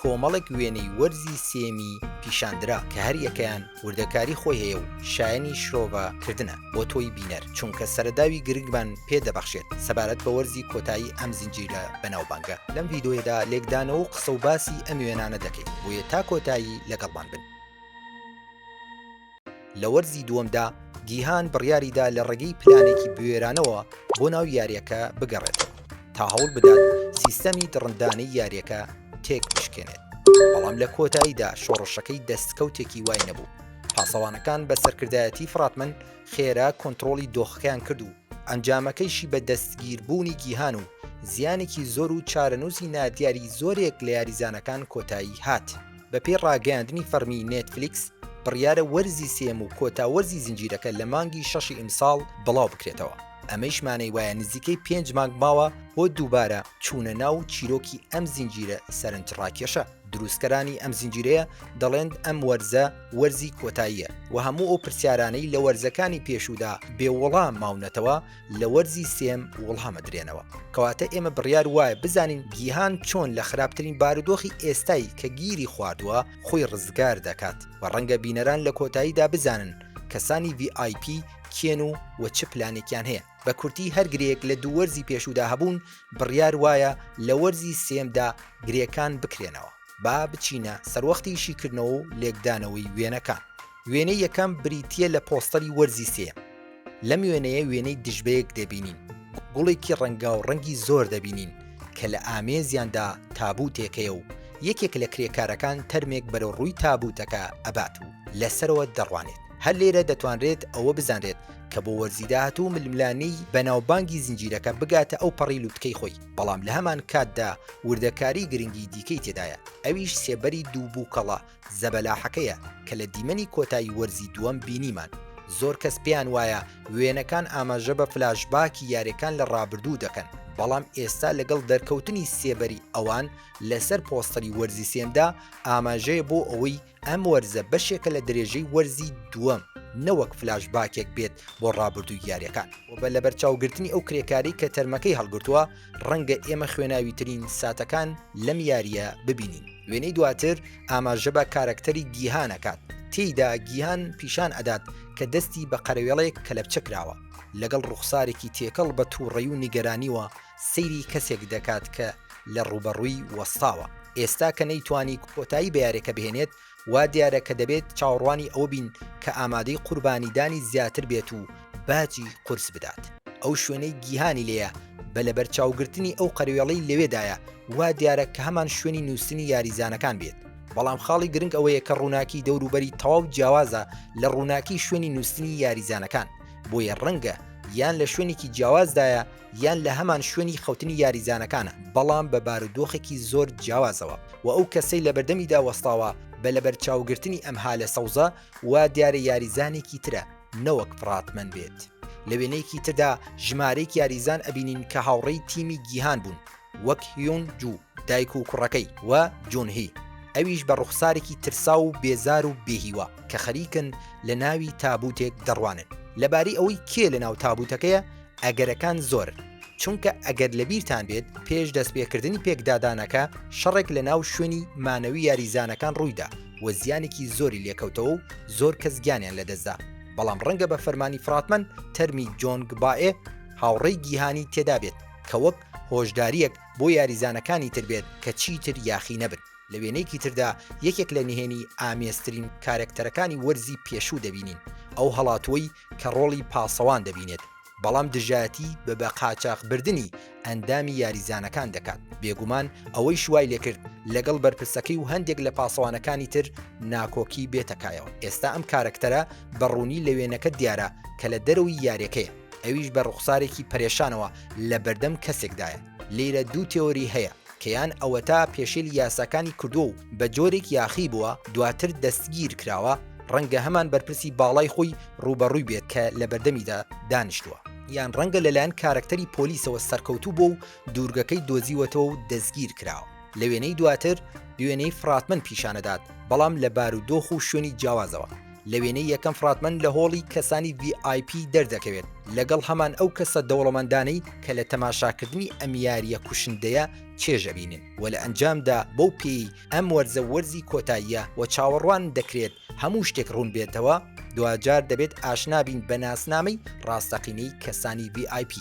کۆمەڵێک وێنەی وەرزی سێمی پیشاندرا کە هەریەکەیان وردەکاری خۆی هەیە و شایەنی شرۆڤە کردنە بۆ تۆی بینەر چونکە سەرەداوی گرنگمان پێ دەبەخشێت سەبارەت بە وەرزی کۆتایی ئەم زنجیرە بەناوبانگە. لەم ڤیدۆیەدا لێکدانەوە و قسە و باسی ئەم وێنانە دەکەین بۆیە تا کۆتایی لەگەڵمان بن. لە وەرزی دووەمدا گیهان بڕیاریدا لە ڕێگەی پلانێکی بوێرانەوە بۆ ناو یارییەکە بگەڕێتەوە تا هەوڵ بدات سیستەمی دڕندانەی یارییەکە تێک بشکێنێت، بەڵام لە کۆتاییدا شۆڕشەکەی دەستکەوتێکی وای نەبوو، پاسەوانەکان بە سەرکردایەتی فڕاتمەن خێرا کۆنتڕۆڵی دۆخەکەیان کرد و ئەنجامەکەیشی بە دەستگیربوونی گیهان و زیانێکی زۆر و چارەنووسی نادیاری زۆرێک لە یاریزانەکان کۆتایی هات. بەپێی ڕاگەیاندنی فەڕمی نێتفلیکس، بڕیارە وەرزی سێیەم و کۆتا وەرزی زنجیرەکە لە مانگی شەشی ئیمساڵ بڵاو بکرێتەوە، ئەمەیش مانای وایە نزیکەی پێنج مانگ ماوە بۆ دووبارە چوونە ناو چیرۆکی ئەم زنجیرە سەرنجڕاکێشە، دروستکەرانی ئەم زنجیرەیە دەڵێن ئەم وەرزە وەرزی کۆتاییە و هەموو ئەو پرسیارانەی لە وەرزەکانی پێشوودا بێ وڵام ماونەتەوە، لە وەرزی سێم وڵامە درێنەوە کەواتە ئێمە بڕیار وایە بزانین گیهان چۆن لە خراپترین بارودۆخی ئێستای کە گیری خواردووە خۆی ڕزگار دەکات و ڕەنگە بینەران لە کۆتاییدا بزانن کەسانی VIP کێن و و چ پلانێکیان هەیە بە کورتی هەر گرێک لە دوو وەرزی پێشودا هەبوون بڕیار وایە لە وەرزی سێمدا گرێکان بکرێنەوە با بچینە سەروەختی شیکردنەوە و لێکدانەوەی وێنەکان وێنەی یەکەم بریتە لە پۆستەری وەرزی سێ لەم وێنەیە وێنەی دژبەیەک دەبینین گوڵێکی ڕەنگا و ڕەنگی زۆر دەبینین کە لە ئامێزیاندا تابوتێکەیە و یەکێک لە کرێکارەکان تەرمێک بەرەو ڕووی تابوتەکە ئەبات و لەسەرەوە دەڕوانێت هەر لێرە دەتوانرێت ئەوە بزانرێت کە بۆ وەرزیداهات و ململانەی بەناوبانگی زنجیرەکە بگاتە ئەو پەڕی لوتکەی خۆی بەڵام لە هەمان کاتدا وردەکاری گرنگی دیکەی تێدایە ئەویش سێبەری دوو بووکەڵە زەبەلاحەکەیە کە لە دیمەنی کۆتایی وەرزی دووەم بینیمان زۆر کەس پێیان وایە وێنەکان ئاماژە بە فلاشباکی یاریەکان لە ڕابردوو دەکەن بەڵام ئێستا لەگەڵ دەرکەوتنی سێبەری ئەوان لەسەر پۆستەری وەرزی سێمدا ئاماژەیە بۆ ئەوەی ئەم وەرزە بەشێکە لە درێژەی وەرزی دووەم نەوەک فلاش باکێک بێت بۆ ڕابردوو یاریەکان و بە لە بەرچاوگرتنی ئەو کرێکاری کە تەرمەکەی هەڵگرتووە ڕەنگە ئێمە خوێناوی ترین ساتەکان لەم یاریە ببینین وێنەی دواتر ئاماژە بە کارەکتەری گیهانەکات تێیدا گیهان پیشان ئەدات کە دەستی بە قەرەوێڵێک کەلەپچە کراوە لەگەڵ ڕوخسارێکی تێکەڵ بە تووڕەی و نیگەرانیوە سەیری کەسێک دەکات کە لە ڕووبەڕووی وەستاوە. ئێستا کە نەیتوانی کۆتایی بە یاریەکە بهێنێت، وا دیارە کە دەبێت چاوەڕوانی ئەوە بین کە ئامادەی قوربانیدانی زیاتر بێت و باجی قورس بدات. ئەو شوێنەی گیهانی لێیە بە لەبەرچاوگرتنی ئەو قەروێڵەی لەوێدایە، وا دیارە کە هەمان شوێنی نووستنی یاریزانەکان بێت، بەڵام خاڵی گرنگ ئەوەیە کە ڕووناکی دەوروبەری تەواو جیاوازە لە ڕووناکی شوێنی نووستنی یاریزانەکان، بۆیە ڕەنگە یان لە شوێنێکی جیاوازدایە، یان لە هەمان شوێنی خەوتنی یاریزانەکانە، بەڵام بە بارودۆخێکی زۆر جیاوازەوە و ئەو کەسەی لەبەردەمیدا وەستاوە بە لەبەرچاوگرتنی ئەم هالە سەوزە وا دیارە یاریزانێکی ترە نەوەک فڕاتمەن بێت لە وێنەیەکی تردا ژمارەیەک یاریزان ئەبینین کە هاوڕێی تیمی گیهان بوون وەک هیون جوو دایک و کوڕەکەی و جونهی، ئەویش بە ڕوخسارێکی ترساو و بێزار و بێ هیوا کە خەریکن لە ناوی تابوتێک دەڕوانن لەبارەی ئەوەی کێ لە ناو تابوتەکەیە، ئەگەرەکان زۆرن چونکە ئەگەر لەبیرتان بێت پێش دەست پێکردنی پێکدادانەکە شەڕێک لە ناو شوێنی مانەوی یاریزانەکان ڕویدا و زیانێکی زۆری لێکەوتەوە و زۆر کەس گیانیان لەدەستدا بەڵام ڕەنگە بە فەرمانی فراتمەند تەرمی جۆنگ بائێ هاوڕێی گیهانی تێدابێت کە وەک هۆشداریەک بۆ یاریزانەکانی تر بێت کە چیتر یاخی نەبن. لە وێنەیەکی تردا یەکێک لە نهێنی ئامێزترین کارەکتەرەکانی وەرزی پێشوو دەبینین، ئەو هەڵاتووەی کە ڕۆڵی پاسەوان دەبینێت بەڵام دژایەتی بە بە قاچاخبردنی ئەندامی یاریزانەکان دەکات، بێگومان ئەوەیش وای لێکرد لەگەڵ بەرپرسەکەی و هەندێک لە پاسەوانەکانی تر ناکۆکی بێتەکایەوە، ئێستا ئەم کارەکتەرە بە ڕوونی لە وێنەکە دیارە کە لە دەرەوەی یاریەکەیە. ئەویش بە ڕوخسارێکی پەرێشانەوە لە بەردەم کەسێکدایە. لێرە دوو تێۆری هەیە کە یان ئەوەتا پێشێلی یاساکانی کردووە و بە جۆرێک یاخی بووە دواتر دەستگیر کراوە، ڕەنگە هەمان بەرپرسی باڵای خۆی ڕووبەڕووی بێت کە لە بەردەمیدا دانیشتووە. یان ڕەنگە لەلایەن کارەکتەری پۆلیسەوە سەرکەوتوو بووە و دوورگەکەی دۆزیوەتەوە و دەستگیر کراوە. لە وێنەی دواتر، وێنەی فڕاتمەن پیشانەدات، بەڵام لە بارودۆخ و شوێنی جیاوازەوە. لە وێنەی یەکەم فڕاتمەن لە هۆڵی کەسانی VIP دەردەکەوێت لەگەڵ هەمان ئەو کەسە دەوڵەمەندانەی کە لە تەماشاکردنی ئەم یارییە کوشندەیە چێژ ئەبینن و لە ئەنجامدا بەو پێی ئەم وەرزە وەرزی کۆتاییە و چاوەڕوان دەکرێت هەموو شتێک ڕوون بێتەوە دواجار دەبێت ئاشنا بین بە ناسنامەی ڕاستەقینەی کەسانی VIP.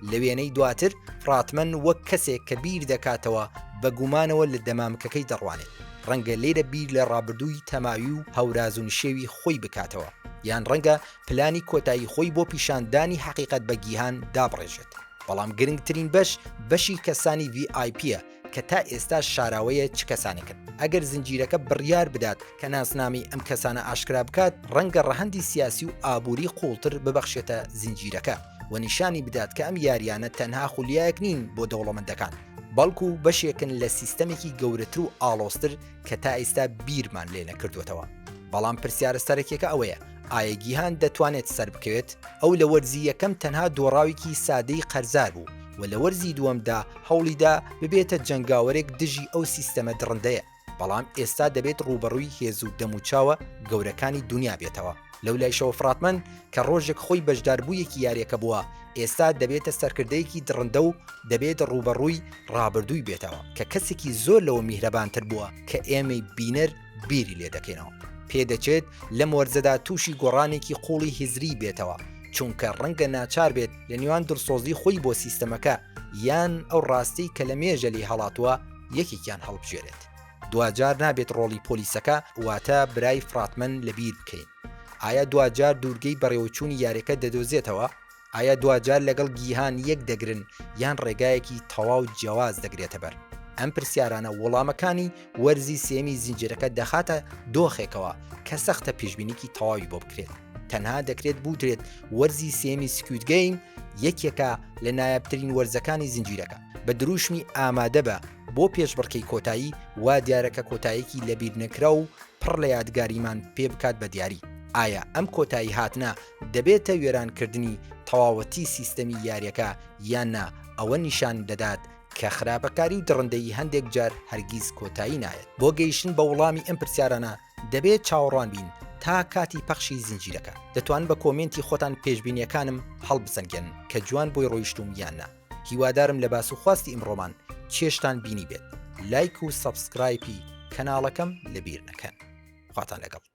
لە وێنەی دواتر، ڕاتمەن وەک کەسێک کە بیر دەکاتەوە بە گومانەوە لە دەمامکەکەی دەڕوانێت، ڕەنگە لێرە بیر لە ڕابردووی تەماوی و هەوراز و نشێوی خۆی بکاتەوە، یان ڕەنگە پلانی کۆتایی خۆی بۆ پیشاندانی حەقیقەت بە گیهان دابڕێژێت. بەڵام گرنگترین بەش، بەشی کەسانی ڤی ئای پییە، کە تا ئێستاش شاراوەیە چ کەسانێکن، ئەگەر زنجیرەکە بڕیار بدات کە ناسنامەی ئەم کەسانە ئاشکرا بکات، ڕەنگە ڕەهەندی سیاسی و ئابووری قووڵتر ببەخشێتە زنجیرەکە و نیشانی بدات کە ئەم یارییانە تەنها خولیایەک نین بۆ دەوڵەمەندەکان، بەڵکو بەشێکن لە سیستەمێکی گەورەتر و ئاڵۆزتر کە تا ئێستا بیرمان لێ نەکردووەتەوە. بەڵام پرسیارە سەرەکیەکە ئەوەیە، ئایە گیهان دەتوانێت سەربکەوێت؟ ئەو لە وەرزی یەکەم تەنها دۆڕاوێکی سادەی قەرزار بوو و لە وەرزی دووەمدا هەوڵیدا ببێتە جەنگاوەرێک دژی ئەو سیستەمە دڕندەیە، بەڵام ئێستا دەبێت ڕووبەڕووی هێز و دەموچاوە گەورەکانی دونیا بێتەوە. لەولایشەوە فڕاتمەن کە ڕۆژێک خۆی بەشداربوویەکی یاریەکە بووە، ئێستا دەبێتە سەرکردەیەکی دڕندە و دەبێت ڕووبەڕووی ڕابردووی بێتەوە کە کەسێکی زۆر لەوە میهرەبانتر بووە کە ئێمەی بینەر بیری لێ دەکەینەوە. پێدەچێت لەم وەرزەدا تووشی گۆڕانێکی قووڵی هزریی بێتەوە، چونکە ڕەنگە ناچار بێت لە نێوان دڵسۆزی خۆی بۆ سیستەمەکە یان ئەو ڕاستیەی کە لە مێژە لێی هەڵاتووە یەکێکیان هەڵبژێرێت. دواجار نابێت ڕۆڵی پۆلیسەکە واتە برای فراتمەن لەبیر بکەین. ئایا دواجار دوورگەی بەڕێوەچوونی یاریەکە دەدۆزێتەوە؟ ئایا دواجار لەگەڵ گیهان یەک دەگرن یان ڕێگایەکی تەواو جیاواز دەگرێتە بەر؟ ئەم پرسیارانە وەڵامەکانی وەرزی سێیەمی زنجیرەکە دەخاتە دۆخێکەوە کە سەختە پێشبینیکی تەواوی بۆ بکرێت، تەنها دەکرێت بوترێت وەرزی سێیەمی سکوید گەیم یەکێکە لە نایابترین وەرزەکانی زنجیرەکە. بە دروشمی ئامادەبە بۆ پێشبڕکێی کۆتایی، وا دیارە کە کۆتاییەکی لەبیرنەکراو و پڕ لە یادگاریمان پێ بکات بە دیاری. ئایا ئەم کۆتایی هاتنە دەبێتە وێرانکردنی تەواوەتی سیستەمی یاریەکە یان نا، ئەوە نیشان دەدات کە خراپەکاری و دڕندەیی هەندێک جار هەرگیز کۆتایی نایەت. بۆ گەیشتن بە وڵامی ئەم پرسیارانە دەبێت چاوەڕوان بین تا کاتی پەخشی زنجیرەکە. دەتوانن بە کۆمێنتی خۆتان پێشبینیەکانم هەڵبسەنگێنن کە جوان بۆی ڕۆیشتووم یان نا. هیوادارم لە باس و خواستی ئمڕۆمان چێژتان بینیبێت. لایک و سەبسکرایپی کەناڵەکەم لەبیر نەکەن. خواتان لەگەڵ.